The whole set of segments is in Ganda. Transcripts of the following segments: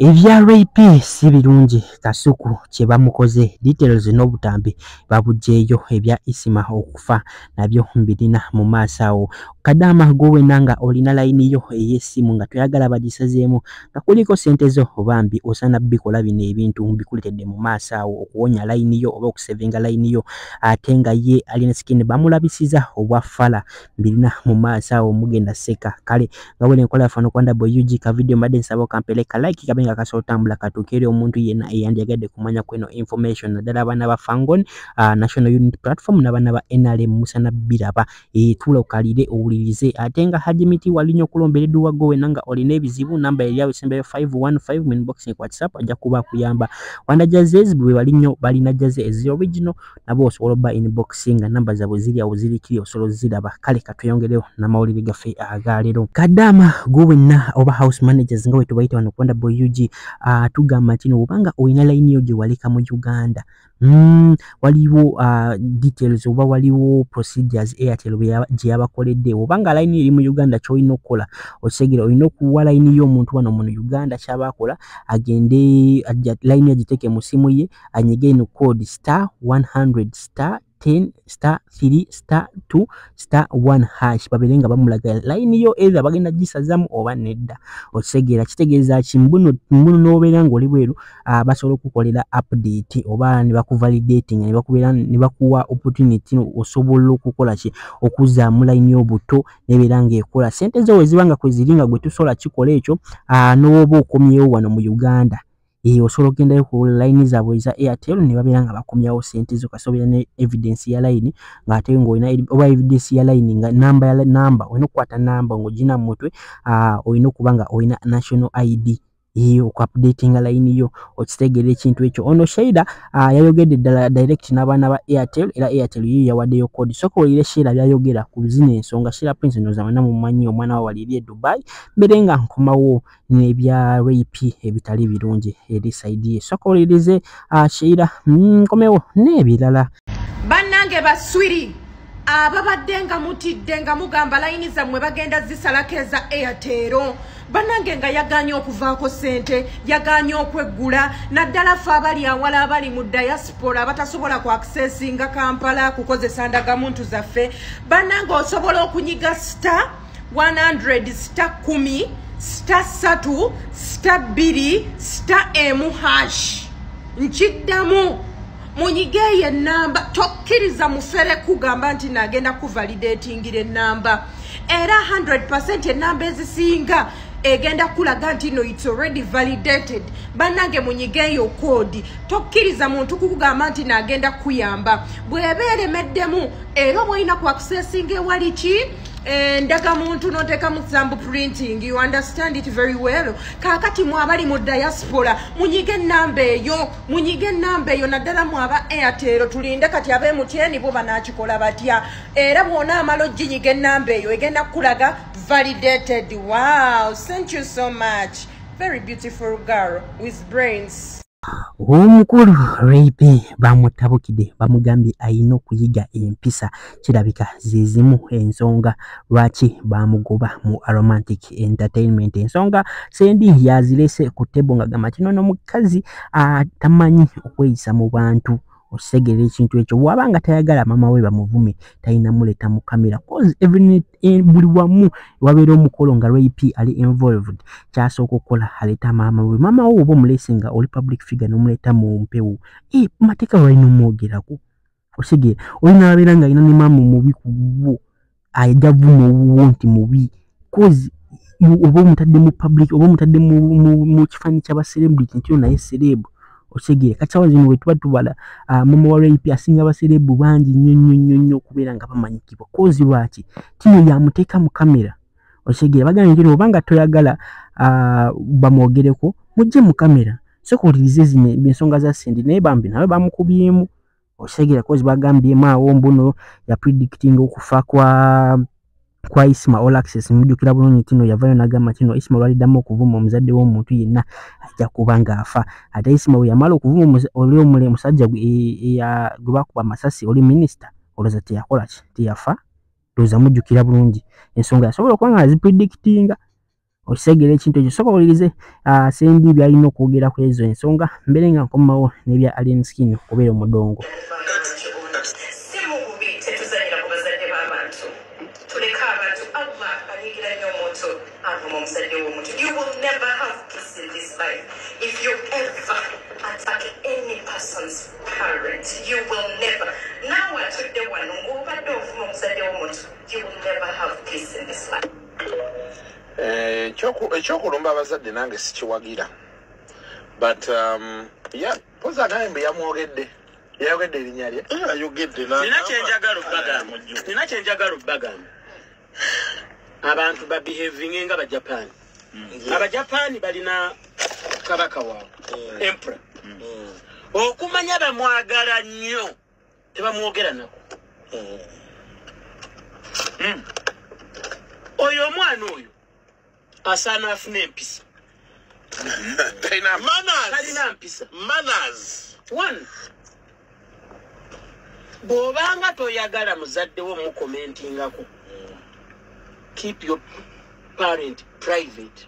Ebya RIP si birungi Kasuku kye bamukoze details n'obutambi babugyeyo ebya Isima okufa nabyo mbirina mu maaso awo kadaama gwe wena nga olina layini yo ey'essimu nga toyagala bagisazeemu nga kuliko sente zo bambi osana bikola bino ebintu mbikuletedde mu maaso awo okuwonya layini yo oba okusevinga layini yo ate nga ye alina sikini bamulabisiza obwa fala mbirina mu maaso awo mugenda seka kale nga bwene nkola yafana okwanda bwe ug ka video mbadde nsaba okampele ka like kabe nga kasobola otambula katuuka eri omuntu yenna eyandiyagadde kumanya kweno information naddala abaana ba fangon uh, national unit platform n'abaana ba nrm musana biraba etuula okalire owulirize ate nga haji miti walinya okulombera edduwa go wena nga olina ebizibu namba yali awo esembayo 515 minboxing whatsapp ajja kuba akuyamba wanda jazes bwe bali nnyo balina jaze ezi original nabo osobola oba inboxinga namba zabwe ziri awo ziri kiri osolo ziraba kale katweyongerewo namawulire gaffe agalero kadama gwe wenna oba house managers nga wetubayita wano kubanda boy ug uh, tugamba ntino obanga olina layini yo gyewaleka mu uganda Mm, waliwo uh, details oba waliwo procedures airtel gyeyabakoledde obanga line eri mu uganda kyolina okukola okisegera olina okuwa line yo omuntu wano muno uganda kyaba akola agende line agiteeke mu simu ye anyige ino code star 100 star 10 star 3 star 2 star 1 hash babeere nga bamulaga layini yo either bagenda gisazamu oba nedda okitegeera kitegeeza ki mbuno mbuno n'obeera ng'oli bweru uh, basobola okukolera update oba ne bakuvalidating ne bakubeera ne bakuwa opportunity osobola okukola ki okuzaamu layini y'obuto nebeera ng'ekola sente zo weziba nga kweziri nga gwe tusobola kikola ekyo uh, n'oba okomyewo wano mu uganda eyo eh, osobola okugendayo ku line zaabwe eza airtel ne babeera nga bakomyawo sente zo kasobera ne evidence ya line ng'ate ng'olina oba evidence ya line nga namba ya namba olina okukwata namba ng'ogina mu mutwe ah, olina okuba nga olina national id ye okuupdatinga layini yo okitegeera ekintu ekyo ono sheira ah, yayogedde ddala direct n'abaana ba airtel era airtel yiyo yawaddeyo kodi soka oyire sheira byayogera ku zino ensonga sheira prince noza wena mumanyi omwana wa waliri e dubai mbere nga nkomawo nebya rape ebitali birungi eri saidi ye soka olirize ashira ah, mm, nkomewo nebirala bannange baswiri ababadde nga mutidde nga mugamba layini zammwe bagenda zisalako eza airtero banange nga yaganye okuvaako sente yaganye okweggula naddala fe abali awala abali mu diaspora abatasobola ku accessinga kampala kukozesa ndagamuntu zaffe banange osobola okunyiga star 100 sita kumi sita satu sita bbiri sita emu hash nkiddamu munyige eyo enamba tokkiriza mufere kugamba nti nagenda kuvalidatingira enamba era 100 enamba ezisinga egenda kulaga nti no its already validated banange munyige eyo koodi tokkiriza muntu kukugamba nti nagenda kuyamba bweba eremeddemu era obwolina kwakusesinga ewali ki Eh, ndaga muntu notekamu zambu printing you understand it very well kakati mwabali mu diaspora munyige enamba eyo munyige enamba eyo naddala mwaba airtel tulinde kati abe mutyeni bo banakikola batya era bwona amala ojinyiga enamba eyo egenda kukulaga validated wow thank you so much very beautiful girl with brains omukulu rape bamutabukide bamugambye ayina okuyiga empisa kirabika zezimu ensonga lwaki bamugoba mu aromantic entertainment ensonga sendi yazirese ku tebo nga gamba kino nomukazi atamanyi okweyisa mu bantu okitegera ekintu ekyo waba nga tayagala mama we bamuvume talina muleta mu kamera cause even eh, buli wamu wabeera omukolo nga rap ali involved kyasooka okukola aleeta maama we maama wo oba omulese nga oli public figure nomuleeta mu mpewo e eh, mateeka lwalina omwogerako okitegera olina wabeera nga alina ne maama omubi ku bwo ayija vuma owuwo nti mubi cause oba omutadde mu public oba omutadde mu kifanyi kyaba celebrity nti onaye serebu okitegere kati sawa zino wetuba tubala ah, mama wa rap asinga abaserebu bangi nnyo nnyo nnyo nnyo okubeera nga bamanyikibwa kozi lwaki tino yamuteeka mu kamera okitegere bagamba nti oba nga toyagala ah, bamwogereko mujje mu kamera soka olirize zino ensonga za sendi naye bambi nawe bamukubyemu okitegera kozi bagambyemu awo mbuno ya predicting okufa kwa kwa isma all access mujukira bulungi tino yavayo nagamba tino isma lwaliddamu okuvuma omuzadde w'omuntu yenna ajja kuba ng'afa ate isma bwe yamala okuvuma oli omule omusajja gwe e, e, bakuba amasasi oli minisita olowooza teyakola ki teyafa lowooza mujukira bulungi ensonga yasobola okuba nga azipredictinga okitegera ekintu ekyo soka wulirize ah, sendi byalina okwogera ku ezo ensonga mbere nga nkomawo nebya alien skin okubeera omudongo You will never. Now, what you do, one, who, but don't, from, said, you will never have peace in this life. Eh, ekyokulumba abazadde nange sikiwagira but um, poza naye mbe yamwogedde yayogedde erinya lye nina kyenjagala obagamba nina kyenjagala obagamba abantu babehavinge nga abajapan mm. abajapan balina kabaka waabwe mm. empera mm. okumanya bamwagala nnyo tebamwogera nako hmm. hmm. oyo omwana oyo asaana afuna empisa talina mpisa bw'obanga toyagala muzadde wo mukomentingako keep your parent private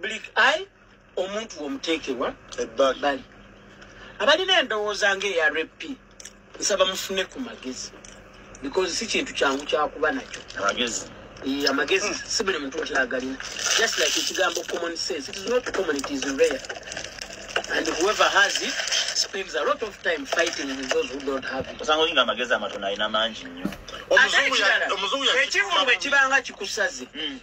Blik I omuntu omuteekerwa ebbali abalina endowooza ng'eya rp nsaba mufune ku magezi because si kintu kyangu kyakuba nakyo amagezi amagezi si buli muntu nti agalina just like ekigambo common sense it is not common it is rare and whoever has it spends a lot of time fighting with those who don't have it osanga olinga amagezi amatono alina mangi nnyo ekivulu bwe kibanga kikusaze hmm.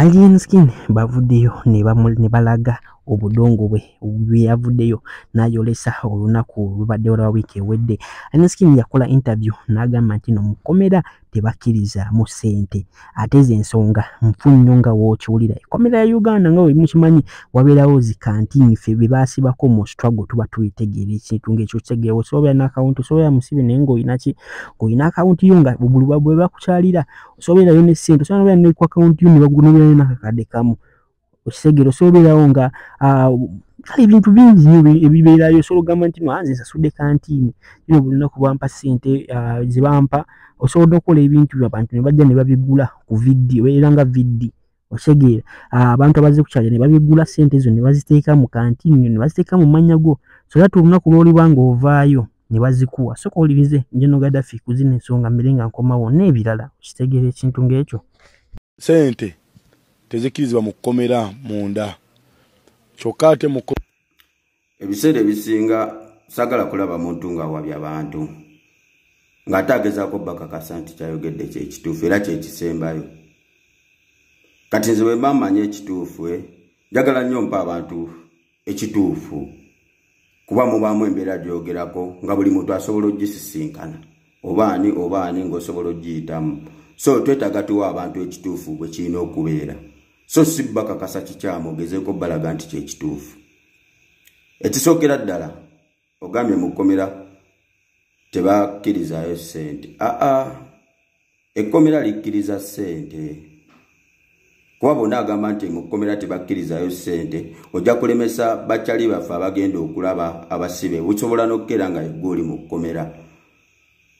Alien Skin bavuddeyo ne balaga obudongo bwe bweyavuddeyo n'ayolesa olunaku olubaddewo lwa wiiki ewedde aneskin yakola interview n'agamba nti no mukomera tebakkirizaamu ssente ate ze ensonga nfu nnyo nga wookiwulira ekomera ya uganda nga wemukimanyi wabeerawo zikantiini ffe be baasibako mu struggle tuba tubitegeera ekintu ngaekyo kitegeewo sobeera n'akawunti sobeera musibe naye ngaolinaki ngaolina akawunti yo nga bwe bakukyalira osobeerayo ne ssente osobola nobeera ne ku akawunti yo ne bakunobeerayo nakakadde kamu okisegere osobola obeerawo nga ah, kale ebintu bingi ebibeerayo osobola ogamba nti nwanze nsasudde kantiini kino buli lunaku bampa ssente ah, ze bampa osobola nokukola ebintu byabantu ne bajja ne babigula ku viddi obeera nga viddi otegeera ah, abantu abazze kukyalya ne babigula sente ezo ne baziteeka mu kantiini ne baziteeka mu mannya go so that olunaku lw'oliba ng'ovaayo ne bazikuwa soka owulirize njeno gadafi ku zino ensonga mmere nga nkomawo n'ebirala okitegeera ekintu ng'ekyo sente tezikkirizibwa mu kkomera munda kyokka ate mu ebiseera ebisinga sagala kulaba muntu ng'awabya bantu ng'ate agezaako bakakasa nti kyayogedde kyekituufu era kyekisembayo kati nze bwe mba mmanyi ekituufu e njagala nnyo mpa abantu ekituufu kuba mubaamu embeera gyogerako nga buli muntu asobola ogisisinkana oba ani oba ani ng'osobola ogiyitamu so twetaaga tuwa abantu ekituufu bwe kirina okubeera so si bakakasa kikyamu ogezeeko balaga nti kyekituufu ekisookera ddala ogambye mu kkomera tebakkirizaayo ssente aa ekkomera likkiriza ssente kuba bona agamba nti mu kkomera tebakkirizayo ssente ojja kulemesa bakyali baffe abagenda okulaba abasibe busobola n'okukeera nga yegga oli mu kkomera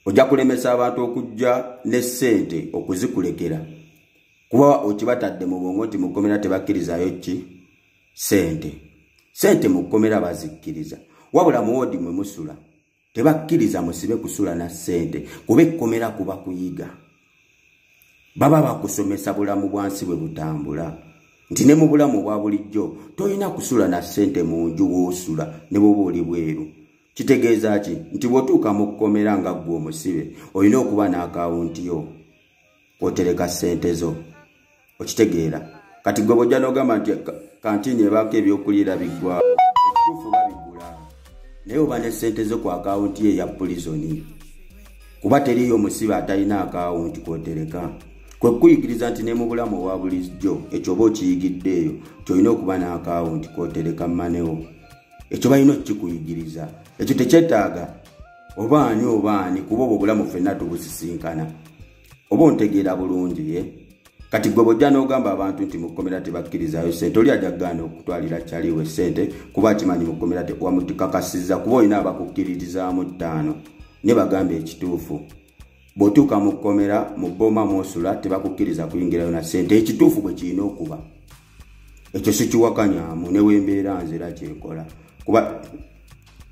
ojja kulemesa abantu okujja ne ssente okuzikulekera kuba okibatadde mu bwongo nti mu kkomera tebakkirizayo ki sente sente mu kkomera bazikkiriza wabula muwoodi mwe musula tebakkiriza musibe kusula na sente kuba ekkomera kuba kuyiga baba bakusomesa bulamu bwansi bwe butambula nti ne mu bulamu obwa bulijjo tolina kusula na sente mu nju woosula ne bwoba oli bweru kitegeeza ki nti bwotuuka mu kkomera nga ggwe omusibe olina okuba n'akawunti yo kwotereka ssente zo okitegeera kati gwe bwojja nogamba nti kantini ebaako ebyokuliira biggwa ekituufu babigula naye oba ne sente zo ku akawunti ye eya pulizoni kuba teriyo omusibe atalina akawunti kwotereka kwe kuyigiriza nti ne mu bulamu obwa bulijjo ekyo oba okiyigidde eyo kyolina okuba n'akawunti kwotereka manewo ekyo balina okukikuyigiriza ekyo tekyetaaga oba ani oba ani kuba obwo obulamu ffenna tubusisinkana oba ontegeera bulungi ye kati gwe bwojja n'ogamba abantu nti mu kkomera tebakkirizayo sente oli ajja kugaana okutwalira kyaliwe sente kuba akimanyi mu kkomera wamutukakasiza kuba olina abakukkiririzaamu ttaano ne bagamba ekituufu bw'otuuka mu kkomera mu bbooma mwosula tebakukkiriza kuyingirayo na sente ekituufu bwe kirina okuba ekyo sikiwakanyamu ne wembeera nzira kyekola kuba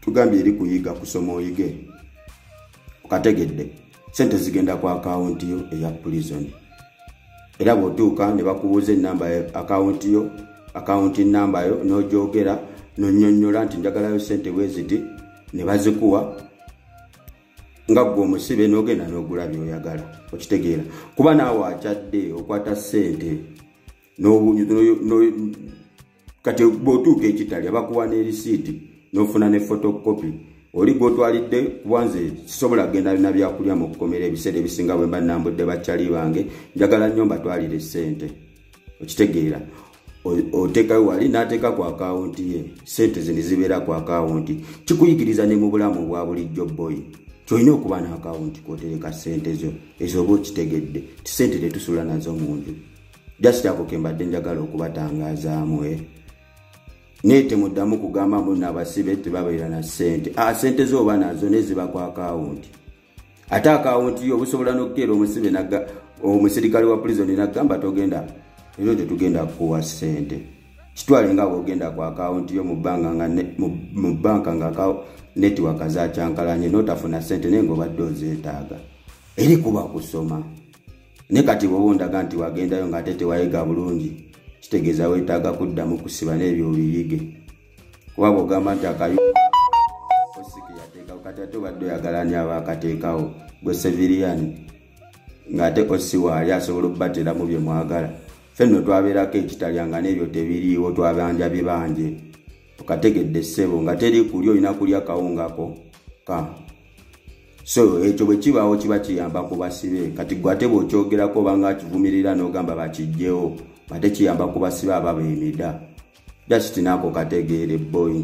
tugambye eri kuyiga kusoma oyige okategedde sente zigenda ku akawunti yo eya prison era bw'otuuka ne bakubuuza enamba ya akawunti yo akawunti namba yo n'ogyogera nonyonyola nti njagalayo sente bweziti ne bazikuwa nga gwe omusibe n'ogenda n'ogula byoyagala okitegeera kuba naawe akyadde okwata sente kati bwotuuka ekitalya bakuwa ne risiiti n'ofuna ne fotokopi oli gwotwalidde kubanze sisobola kugenda lina byakulya mu kukomera ebiseera ebisinga bwe mba nambudde bakyali bange njagala nnyo mbatwalire ssente okitegeera oteekayo wali n'ateeka ku akawunti ye ssente zino zibeera ku akawunti kikuyigiriza ne mu bulamu obwa bulijjo boyi kyolina okuba n'akawunti kwotereka ssente zo ezooba okitegedde ti ssente tetusula nazo mu nju just ako kembadde njagala okubatangazaamu e eh. naye temuddamu kugamba mu nabasibe tebabeera na sente a ah, sente zooba nazo naye ziba ku akawunti ate akawunti yo obusobola n'okukeera omusibe omusirikale wa pulizoni nagamba togenda era ojo tugenda kukuwa sente kitwale nga bwogenda ku akawunti yo mu banka nga netiwaka zakyankalanye notafuna sente naye ngaobadde ozeetaaga eri kuba kusoma ne kati bwoba ondaga nti wagendayo ngaate tewayiga bulungi kitegeeza wetaaga kuddamu kusiba n'ebyo obiyige kuba bwogamba nti akayu osikeyateekawo kati ate obadde oyagala ni aba akateekawo gwe seviriyani ng'ate osi waali asobola okubateramu bye mwagala fe nno twabeerako ekitalya nga n'ebyo tebiriiwo twabanja bibanje okategedde ssebo nga teri kulya olina kulya kawungako ka so ekyo bwe kibaawo kiba kiyamba ku basibe kati gwe ate bw'okyogerako obanga akivumirira n'ogamba bakijjewo ate kiyamba ku basibe aba beemida just naako kategeere boyi